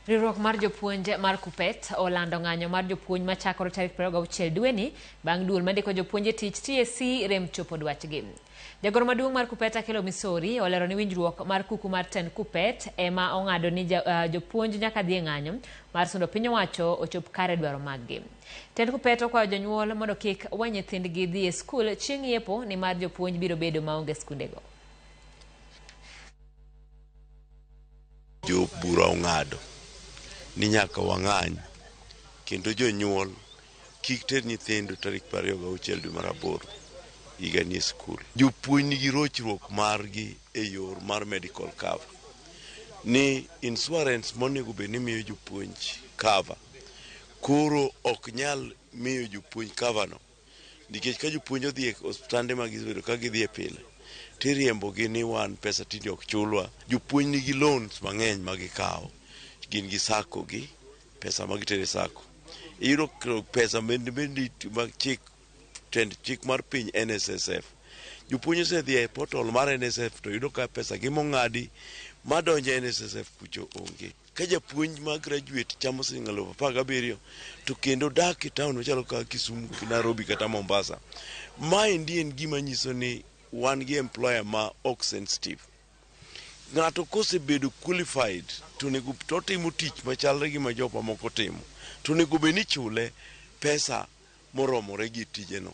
Riwruok mar jopuonj mar KUPPET olando ng'anyo mar jopuonj machakore tarik 26 dweni bang' duol mandiko jopuonj e tich TSC rem chopo dwachgi. Jagoro maduong' mar KUPPET Akelo Misori olero ni winjruok mar kuku mar tend KUPPET ema ong'ado ni uh, jopuonj nyaka dhi e ng'anyo mar sundo piny owacho ochop kare dwaro maggi. Tend KUPPET okwayo jonyuol mondo kik we nyithindgi dhi e skul chieng' yepo ni mar jopuonj biro bedo maonge skundego. Jo bura ong'ado ni nyaka wang'any kendo jonyuol kik ter nyithindo tarik 26 dwe mar aboro higa ni e skul. Jopuonj nigi rochruok margi e yor mar medical cover ni insurance monego bed ni miyo jopuonj cover koro ok nyal miyo jopuonj cover no Nikech ka jopuonj odhi e osiptande ma gisebedo ka gidhiye pile, tiriembogi ni wan pesa tinde ok chulwa. Jopuonj nigi loans mang'eny ma gikawo, gin gi sacco gi, pesa ma gitero e sacco. Iyudo ka pesa bende bende ma chik tend chik mar piny NSSF. Jopuonj osedhi e portal mar NSSF to yudo ka pesa gi mong'adi madonjo e NSSF kucho onge. Ka japuonj ma graduate chamo siling' alufu apar gabiriyo to kendo dak e taon machalo kaka Kisumu, Nairobi kata Mombasa, maendi en gima nyiso ni wan gi employer ma ok sensitive. Ng'ato kosebedo qualified to onego to otimo tich machalre gi ma jok mamoko timo to onego bed ni ichule pesa moromore gi tijeno.